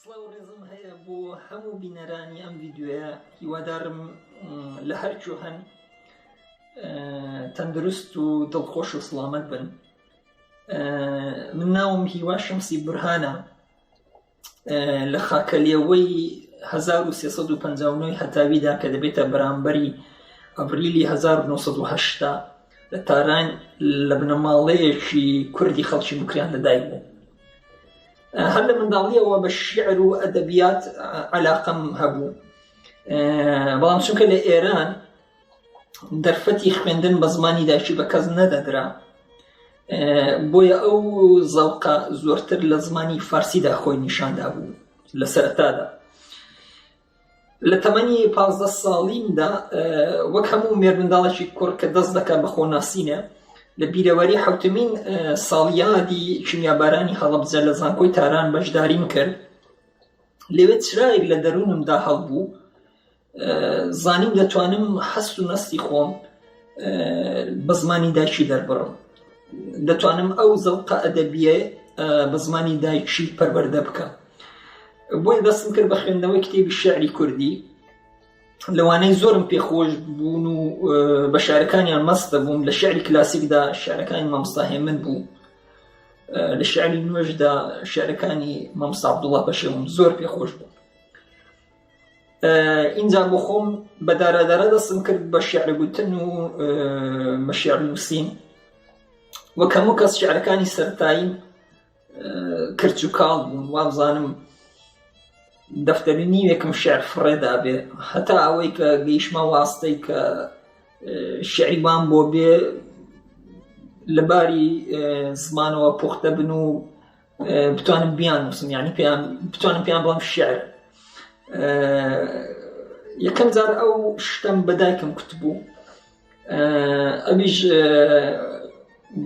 سڵاو و ڕێزم هەیە بۆ هەموو بینەرانی ئەم ڤیددیوەیە هیوادارم لە هەرکوێ هەن تەندروست و دڵخۆش و سڵامەت بن من ناوم هیوا شمسی برهانە لە خاکەلیەوەی 1950 هەتاویدا کە دەبێتە بەرامبەری ئەبریلی 1970 لە تاران لە بنەماڵەیەکی کوردی خەڵکی بکریان لەدایک بوو هەر لە منداڵیەوە بە شیعر و ئەدەبیات علاقم هەبوو بەڵام چونکە لە ئێران دەرفەتی خوێندن بە زمانی داکی بە کەس نەدەدرا بۆیە ئەو زەوقە زۆرتر لە زمانی فارسیدا خۆی نیشاندا بوو لە سەرتادا لە تەمەنی پازدە ساڵیمدا وەک هەموو مێرمنداڵێکی کوڕ کە دەست دەکات بە خۆناسینە لە بیرەوەری حوتمین ساڵیادی کیمیابارانی هەڵبجە لە زانکۆی تاران بەشداریم کرد لەوێ چرایەک لە دەروونمدا هەڵبوو زانیم دەتوانم هەست و نستی خۆم بە زمانی دایکی دەربڕم دەتوانم ئەو زەوقە ئەدەبیە بە زمانی دایکی پەروەەردە بکەم بۆیە دەستم کرد بە خوێندنەوەی کتێبی شعری کوردی لەوانەی زۆرم پێخۆش بوون و بە شارەکانیان مەستە بووم لە شعری کلاسیکدا شارەکانی مامستاهێ من بوو لە شعری نوێژدا شارەکانی مامسابدوڵە بەشێوم زۆر پێخۆش بوو ئینجا بۆ خۆم بە دارادارە دەستم کرد بە شعر گوتن و مەشعر نووسین وەکەمو کەس شعرەکانی سەرتاییم کرچ و کاڵ بوون وابزانم دەفتەری نیوێکم شعر فڕێدابێ هەتا ئەوەی کە گەیشمە واستەی کە شعریوان بۆ بێ لەباری زمانەوە پوختە بن و بتوانم بیان وسم ینی پێیان بتوانم پێیان بڵم شعر یەکەم جار ئەو شتم بەدایکم کوتبوو ئەویش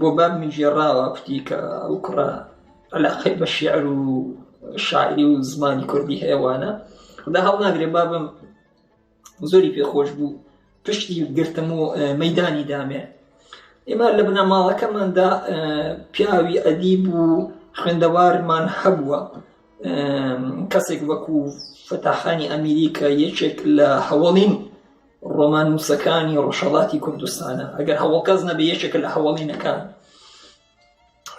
بۆ بابمی گێڕاوە کوتی کە ئەو کوڕە علاقەی بە شعر و شاعری و زمانی کوردی هەیەوانە خدا هەڵ ناگرێ بابم زۆری پێخۆش بوو پشتی گرتم و مەدانی دامێ ئێمە لە بنەماڵەکەماندا پیاوی ئەدیب و خوێندەوارمان هەبووە کەسێک وەکو فتاحانی ئەمیریکا یەکێک لە هەوڵین ڕۆماننووسەکانی ڕۆژهەڵاتی کوردستانە ئەگەر هەوڵکەس نەبێ یەکێکە لە هەوڵینەکان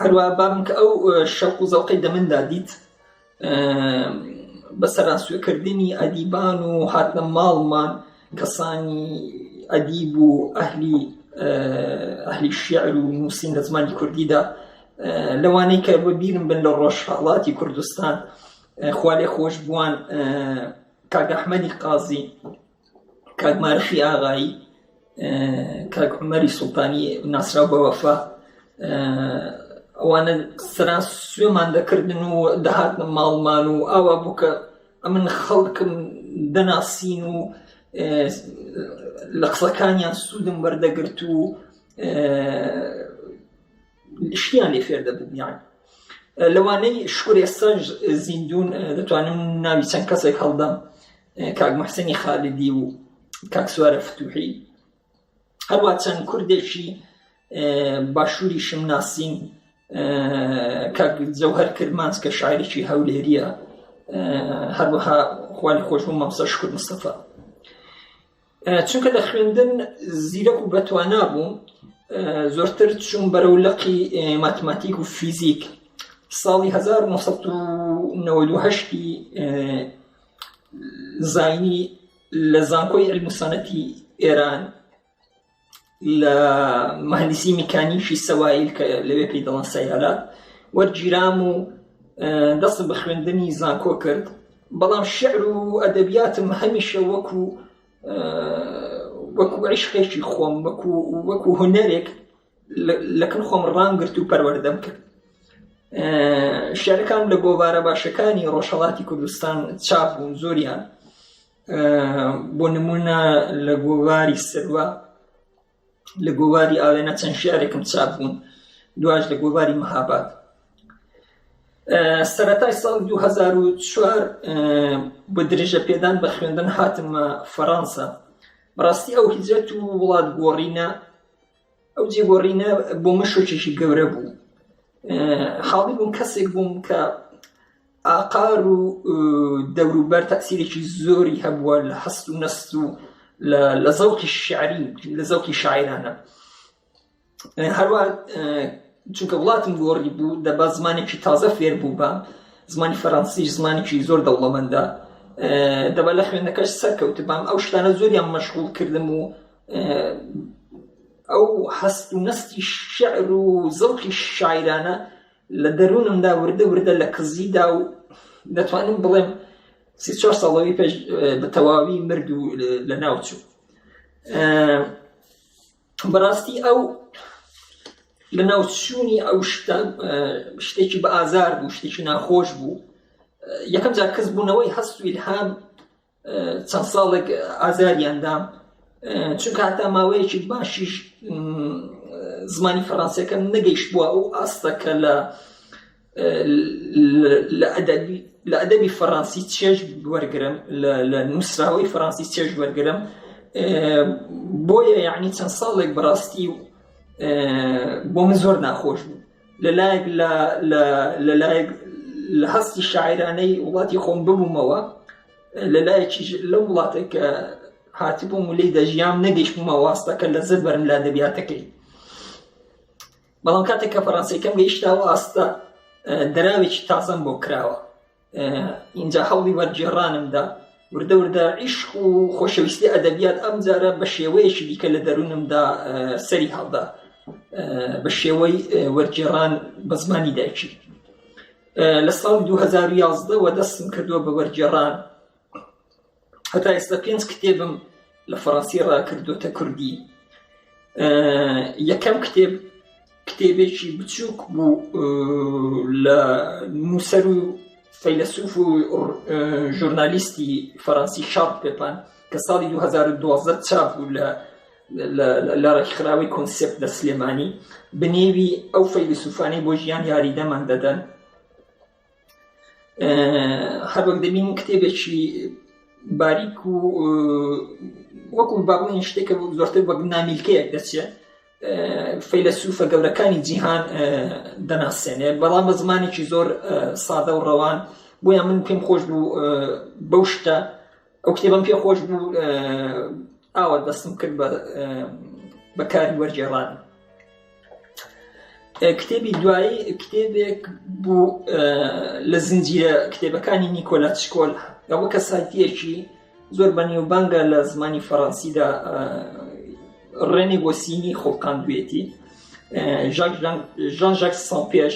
هەروە بابم کە ئەو شەق و زەوقی دەمندا دیت بە سەرانسوێکردنی ئەدیبان و هاتنە ماڵمان کەسانی ئەدیب و ئەهلی ئەهلی شیعر و نووسین لە زمانی کوردیدا لەوانەی کە بە بیرم بن لە ڕۆژهڵاتی کوردستان خوالێ خۆش بووان کاگەحمەدی قازی کاک مارخی ئاغایی کاک عمەری سوڵتانی ناسرا بە وەفا ئەوانە سرا سوێمان دەکردن و دەهاتنە ماڵمان و ئاوا بوو کە ئەمن خەڵکم دەناسین و لە قسەکانیان سوودم وەردەگرت و شتیان لێ فێر دەبووم یان لەوانەی شکر ئێستا زیندون دەتوانم ناوی چەند کەسێک هەڵدەم کاک محسنی خالدی و کاک سوارە فتوحی هەروە چەند کوردێکی باشووری شم ناسین کاک جەوهر کرمانس کە شاعرێکی هەولێریە هەروەها خوانی خۆشبوو مامسا شکر مستەفا چونکە لە خوێندن زیرەک و بەتوانا بووم زۆرتر چوون بەرەو لەقی ماتماتیک و فیزیک ساڵی 1990ی زینی لە زانکۆی علموسانەتی ئێران لە مهندسی میکانیکی سەوایل کە لەوێ پێی دەڵان سەیارات وەرگیرام و دەستم بە خوێندنی زانکۆ کرد بەڵام شعر و ئەدەبیاتم هەمیشە وەکو وەکو عیشقێکی خۆم وەکو وەکو هوەرێک لەکن خۆم ڕامگررت و پەروەەردەم کرد شارەکان لە گۆوارە باشەکانی ڕۆژهڵاتی کوردستان چاپ بوون زۆریان بۆ نمونە لە گۆواری سروە لە گۆواری ئاوێنە چەند شارێکم چاپ بوون دواش لە گۆواری مەهاباد سەتای ساڵ 2004 بە درێژە پێدان بە خوێندن هاتممە فەڕەنسا بەڕاستی ئەو هیجرەت و وڵات گۆڕینە ئەو جێگۆڕینە بۆ من شۆکێکی گەورە بوو حاڵی بووم کەسێک بووم کە ئاقار و دەوروبەر تاسیرێکی زۆری هەبووە لە هەست و نەست و لە زەوقی شعری لە زەوقی شاعرانە هەروە چونکە وڵاتم گۆڕی بوو دەبا زمانێکی تازە فێر بوو بە زمانی فەرەنسی زمانێکی زۆر دەوڵەمەندە دەبا لە خوێندەکەش سەرکەوت بام ئەو شتانە زۆریان مەشغول کردم و ئەو هەست و نستی شعر و زەوقی شاعرانە لە دەروونمدا وردە وردە لە کزیدا و دەتوانم بڵێم سی چوار ساڵەوەی پێش بە تەواوی مرد و لە ناوچوو بەڕاستی ئەو لە ناوچوونی ئەو شتە شتێکی بە ئازار بوو شتێکی ناخۆش بوو یەکەم جار کەس بوونەوەی هەست ویلهام چەند ساڵێک ئازاریان دام چونکە هەتا ماوەیەکی باشیش زمانی فەڕانسیەکە نەگەیشت بووە ئەو ئاستەکە لە لە ئەدەبی لە ئەدەبی فەڕەنسی چێژ وەرگرم لە نووسراوەی فەڕەنسی چێژ وەرگرم بۆیە یعنی چەند ساڵێک بڕاستی بۆ من زۆر ناخۆش بوو لە لایەک لە لایەک لە هەستی شاعرانەی وڵاتی خۆم ببوومەوە لە لایەکی لەو وڵاتێک کە هاتبووم و لی دەژیام نەگەیشتمە واستەکە لە زر بەرم لە دەبیاتەکەی بەڵام کاتێک کە فەڕەنسیەکەم گەیشتاوە ئاستە دەراوێکی تازەم بۆ کراوە ئینجا هەوڵی وەرگێڕانمدا وردە وردە عیشق و خۆشەویستی ئەدەبیات ئەم جارە بە شێوەیەکی دیکە لە دەروونمدا سەری هەڵدا بە شێوەی وەرگێڕان بە زمانی دایکی لە ساڵ 2011 وە دەستم کردووە بە وەرگێڕان هەتا ئێستا پێنج کتێبم لە فەڕەنسی ڕاکردوتە کوردی یەکەم کتێب کتێبێکی بچووک بوو لە نووسەر و فەیلسوف و ژورنالیستی فەرەنسی شارپ پێپان کە ساڵی 2012 چاپ بوو لە لە ڕێکخراوی کۆنسپت لە سلێمانی بنێوی ئەو فەیلسوفانەی بۆ ژیان یاریدەمان دەدەن هەر وەک دەبین کتێبێکی باریک و وەکو باڵین شتێکە بوو زۆرتر وەک نامیلکەیەک دەچێت فەیلەسوفە گەورەکانی جیهان دەناسێنێ بەڵام بە زمانێکی زۆر سادە و ڕەوان بۆیان من پێم خۆش بوو بەو شتە ئەو کتێبم پێ خۆش بوو ئاوا دەستم کرد بە کاری وەرجێڕان کتێبی دوایی کتێبێک بوو لە زنجیرە کتێبەکانی نیکۆلا شکۆل ئەوە کە سایتیەکی زۆر بەنیوبانگە لە زمانی فەڕەنسیدا ڕێنی بۆ سینی خۆڵقاندوێتی ژان ژاک سان پێش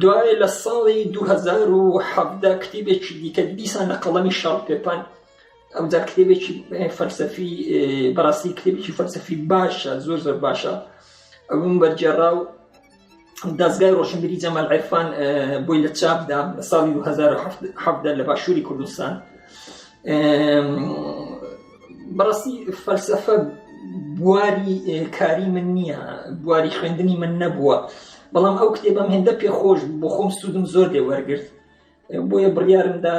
دوای لە ساڵی دوو هەزار و حەڤدە کتێبێکی دیکە دیسان لە قەڵەمی شەڕ پێپان ئەوجا کتێبێکی فەلسەفی بەڕاستی کتێبێکی فەلسەفی باشە زۆر زۆر باشە ئەوم بەرجێڕا و دەستگای ڕۆشنبیری جەمال عرفان بۆی لە چاپدا لە ساڵی 2017 لە باشووری کوردستان بەڕاستی فەلسەفە بواری کاری من نییە بواری خوێندنی من نەبووە بەڵام ئەو کتێبم هێندە پێخۆش بۆ خۆم سوودم زۆر دێ وەرگرت بۆیە بڕیارمدا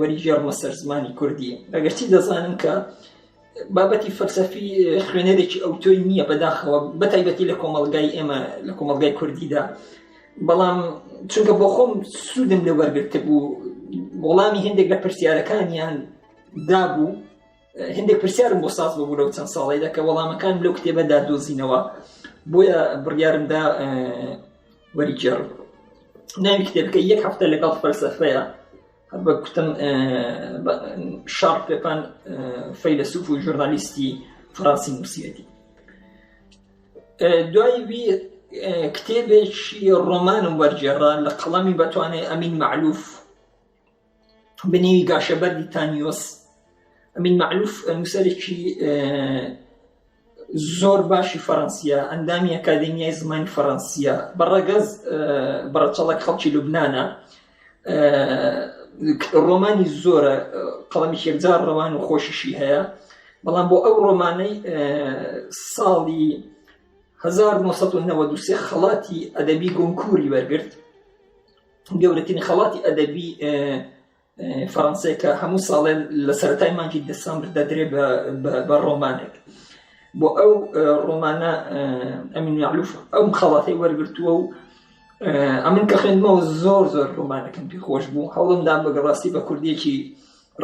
وەریگێڕمە سەر زمانی کوردی ئەگەرچی دەزانم کە بابەتی فەلسەفی خوێنەرێکی ئەو تۆی نییە بەداخەوە بەتایبەتی لە کۆمەلگای ئێمە لە کۆمەلگای کوردیدا بەڵام چونکە بۆ خۆم سوودم لە وەرگرتە بوو وەڵامی هەندێک لە پرسیارەکانیان دابوو هندێک پرسیارم بۆ ساز ببوو لەو چەند ساڵیدا کە وەڵامەکان لەو کتێبەدا دۆزینەوە بۆیە بڕیارمدا وەریگەڕ ناوی کتێبەکە یەک هەفتە لەگەڵ فەلسەفەیە هەر بە کوتم شار پێپان فەیلسوف و ژورنالیستی فڕاستی نووسەتی دوای وی کتێبێکی ڕۆمانم وەرجێڕا لە قەڵەمی بەتوانێ ئەمین معلوف بنیوی گاشەبەردی تانیۆس ئەمین مەعلوف نووسەرێکی زۆر باشی فەڕەنسیە ئەندامی ئەکادمیای زمانی فەڕەنسیە بە ڕەگەز بەڕەچەڵک خەڵکی لوبناە ڕۆمانی زۆرە قەڵەمی شێکجار ڕەوان و خۆشیشی هەیە بەڵام بۆ ئەو ڕۆمانەی ساڵی 1993 خەڵاتی ئەدەبی گۆنکوری وەرگرت گەورەترین خەڵاتی ئەدەبی فەڕەنسێکە هەموو ساڵێ لە سەرای مانکی دەسامبر دەدرێ بە ڕۆمانێک بۆ ئەو ڕۆمانە ئەمین یاعلوف ئەو خەڵاتی وەرگتووە و ئەمن کە خوێندمەوە زۆر زۆر ڕۆمانەکەم پێ خۆش بوو هەوڵمدا بەگەڕاستی بە کوردێکی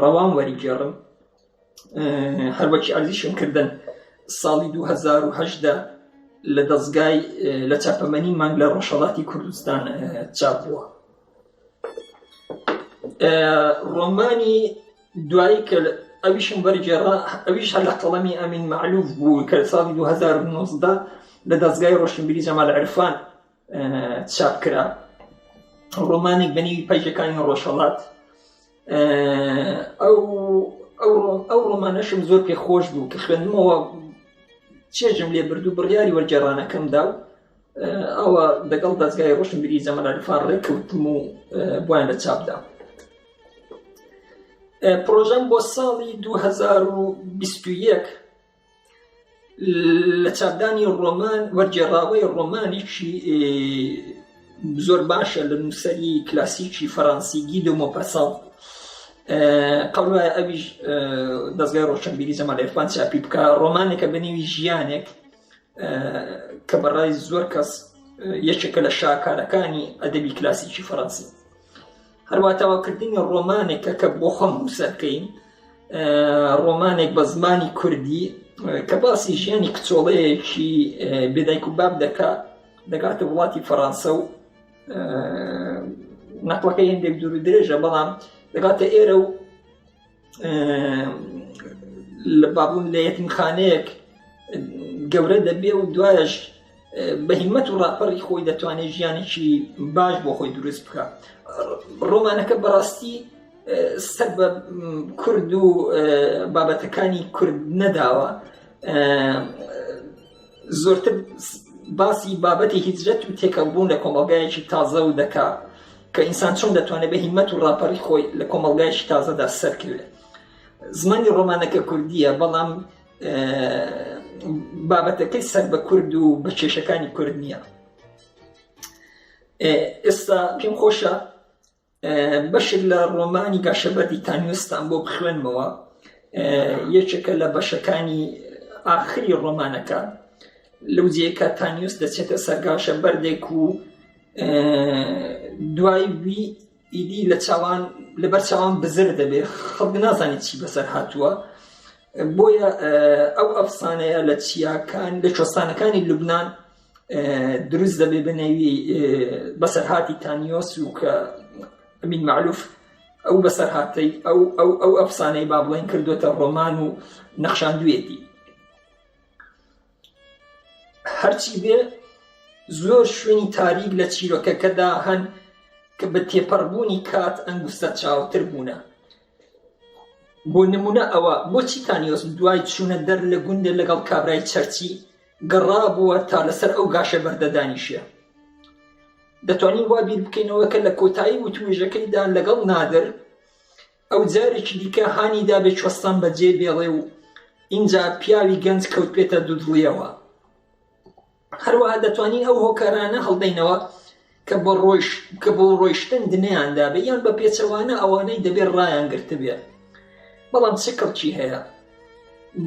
ڕەوان وەریگێڕم هەروەکی ئەرزیشم کردن ساڵی 2010دا لە دەستگای لە چاپەمەنی مانگ لە ڕۆژهڵاتی کوردستان چاپ بووە ڕۆمانی دوایی کە ئەویشم بەرگێڕا ئەویش هەر لە قەڵەمی ئەمین معلوف بوو کە ساڵی 2009دا لە دەستگای ڕۆشنبیری جەمال عرفان چاپکرا ڕۆمانێک بەنیوی پەیجەکانی ڕۆژهڵات ئەو ئەو ڕۆمانەشم زۆر پێ خۆش بوو کە خوێندمەوە چێژم لێ بردو بڕیاری وەرجێڕانەکەمدا و ئەوە دەگەڵ دەستگای ڕۆشن بری زەمەنەرفان ڕێککەوتم و بۆیان لە چاپدا پرۆژەم بۆ ساڵی 2021 لە چاپدانی ڕۆمان وەرگێڕاوەی ڕۆمانێکی زۆر باشە لە نووسری کلاسیکی فەڕەنسی گی دۆمۆپەسەڵ قەڵ وایە ئەویش دەستگای ڕۆشنبیری زەمە لە ئێفان چاپی بکە ڕۆمانێکە بەنێوی ژیانێک کە بەڕای زۆر کەس یەکێکە لە شاکارەکانی ئەدەبی کلاسیکی فەڕەنسی هەروە تەواوکردنی ڕۆمانێکە کە بۆ خۆم نووسەر بکەین ڕۆمانێک بە زمانی کوردی کە باسی ژیانی کچۆڵەیەکی بێدایک و باب دەکا دەگاتە وڵاتی فەڕانسە و نەقلەکە هێندێک دوور و درێژە بەڵام دەگاتە ئێرە و لە بابون لە یەتمخانەیەک گەورە دەبێ و دوایش بە هیمەت و ڕاپەڕی خۆی دەتوانێت ژیانێکی باش بۆ خۆی دروست بکە ڕۆمانەکە بەڕاستی سەر بە کورد و بابەتەکانی کورد نەداوە زۆرتر باسی بابەتی هیجرەت و تێکەڵبوون لە کۆمەڵگایەکی تازە و دەکا کە ئینسان چۆن دەتوانێت بە هیمەت و ڕاپەڕی خۆی لە کۆمەڵگایشی تازەدا سەرکەوێت زمانی ڕۆمانەکە کوردیە بەڵام بابەتەکەی سەر بە کورد و بە کێشەکانی کورد نییە ئێستا پێم خۆشە بەشێک لە ڕۆمانی گاشەبەردی تانوێستان بۆ بخوێنمەوە یەکێکە لە بەشەکانی ئاخری ڕۆمانەکە لەو جێکە تانیوس دەچێتە سەرگاشە بەردێک و دوای وی ئیدی لە چاوان لەبەر چاوان بزر دەبێت خەڵک نازانێت چی بەسەر هاتووە بۆیە ئەو ئەفسانەیە لە چیاکان لە چۆستانەکانی لوبناان دروست دەبێ بنەوی بەسەرهاتی تانیۆس و کە ئەمین معلوف ئەو بەسەرهاتەی ئەو ئەو ئەو ئەفسانەی با بڵێن کردوێتە ڕۆمان و نەخشاندوێتی هەرچی بێ زۆر شوێنی تاریک لە چیرۆکەکەدا هەن کە بە تێپەڕبوونی کات ئەنگوستە چاوتر بوونە بۆ نمونە ئەوە بۆچی تانیۆس دوای چوونە دەر لە گوندێ لەگەڵ کابرای چەرچی گەڕابووە تا لەسەر ئەو گاشە بەردە دانیشێ. دەتوانین وا بیر بکەینەوە کە لە کۆتایی وتووێژەکەیدا لەگەڵ نادر ئەو جارێکی دیکە هانی دابێ چوەستان بە جێ بێڵێ و ئینجا پیاوی گەنج کەوت پێێتە دوودڵیەوە هەروەها دەتوانین ئەو هۆکارانە هەڵدەینەوە کە بە کە بۆ ڕۆیشتن دنیان دابێ یان بە پێچەوانە ئەوانەی دەبێت ڕایان گرتبێ بەڵام چ کڕکی هەیە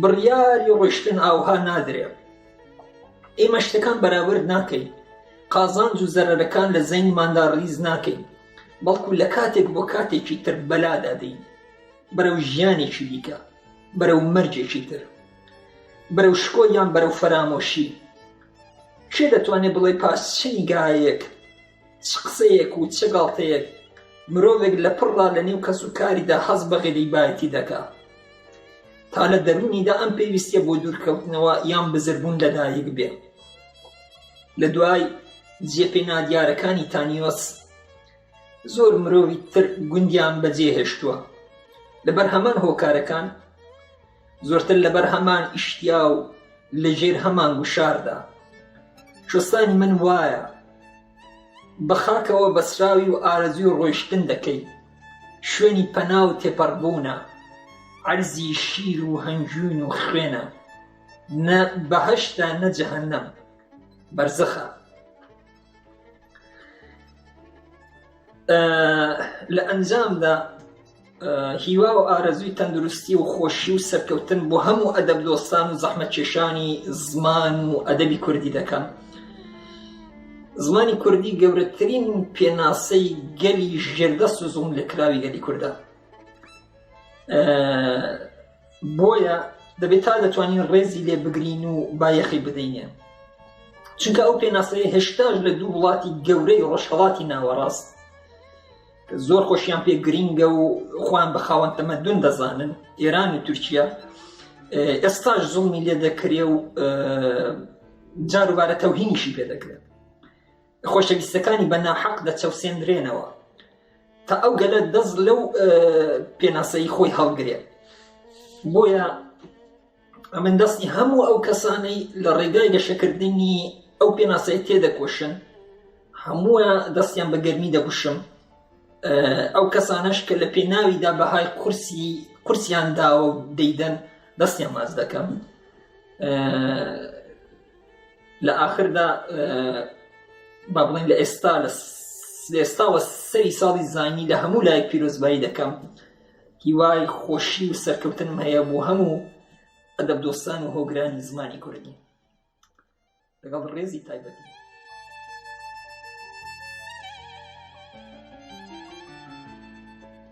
بڕیاری ڕۆشتن ئاوها نادرێ ئێمە شتەکان بەراورد ناکەین قازانج و زەرەرەکان لە زەینماندا ڕیز ناکەین بەڵکو لە کاتێک بۆ کاتێکی تر بەلادادەین بەرەو ژیانێکی دیکە بەرەو مەرجێکی تر بەرەو شکۆ یان بەرەو فەرامۆشی کێ دەتوانێت بڵێت پاش چ نیگایەک، چ قسەیەک و چ گاڵتەیەک مرۆڤێک لە پڕڕا لە نێو کەس و کاریدا هەست بە غریبایەتی دەکا؟ تا لە دەروونیدا ئەم پێویستیە بۆ دوورکەوتنەوە یان بزربوون لەدایک بێ. لە دوای جێ پێ نادیارەکانی تانیۆس زۆر مرۆڤی تر گوندیان بەجێ هێشتووە لەبەر هەمان هۆکارەکان، زۆرتر لەبەر هەمان ئیشتیا و لە ژێر هەمان گوشاردا شستانی من وایە بە خاکەوە بەسراوی و ئارەزوی ڕۆیشتن دەکەی شوێنی پەنا و تێپەڕبوونە عەرزی شیر و هەنجوین و خوێنە نە بەهشتا نەجهنم بەرزەخە لە ئەنجامدا هیوا و ئارەزوی تەندروستی و خۆشی و سەرکەوتن بۆ هەموو ئەدەب دۆستان و زەحمە کێشانی زمان و ئەدەبی کوردی دەکەم زمانی کوردی گەورەترین پێناسەی گەلی ژێردەست و زوم لەکراوی گەلی کوردە بۆیە دەبێت تا دەتوانین ڕێزی لێ بگرین و بایەخی بدەینێ چونکە ئەو پێناسەیە هێشتاش لە دوو وڵاتی گەورەی ڕۆژهڵاتی ناوەڕاست زۆر خۆشیان پێ گرینگە و خۆیان بە خاوەن تەمەدون دەزانن ئێران و تورکیا ئێستاش زڵمی لێ دەکرێ و جاروبارە تەوهینیشی پێ دەکرێت خۆشەویستەکانی بە ناحەق دەچەوسێنرێنەوە تا ئەو گەلە دەست لەو پێناسەی خۆی هەڵگرێت بۆیە ئەمن دەستی هەموو ئەو کەسانەی لە ڕێگای گەشەکردنی ئەو پێناسەی تێدەکۆشن هەموو دەستیان بە گەرمی دەگوشم ئەو کەسانەش کە لە پێناویدا بەهای قورسی قورسیان داوە و دەیدەن دەستیان ماز دەکەم لە ئاخردا با بڵێن لە ئێستا لە ئێستاوە سەری ساڵی زانی لە هەموو لای پیرۆزبایی دەکەم هیوای خۆشی و سەرکەوتنم هەیە بۆ هەموو ئەدەب دۆستان و هۆگرانی زمانی کوردی لەگەڵ ڕێزی تایبەتی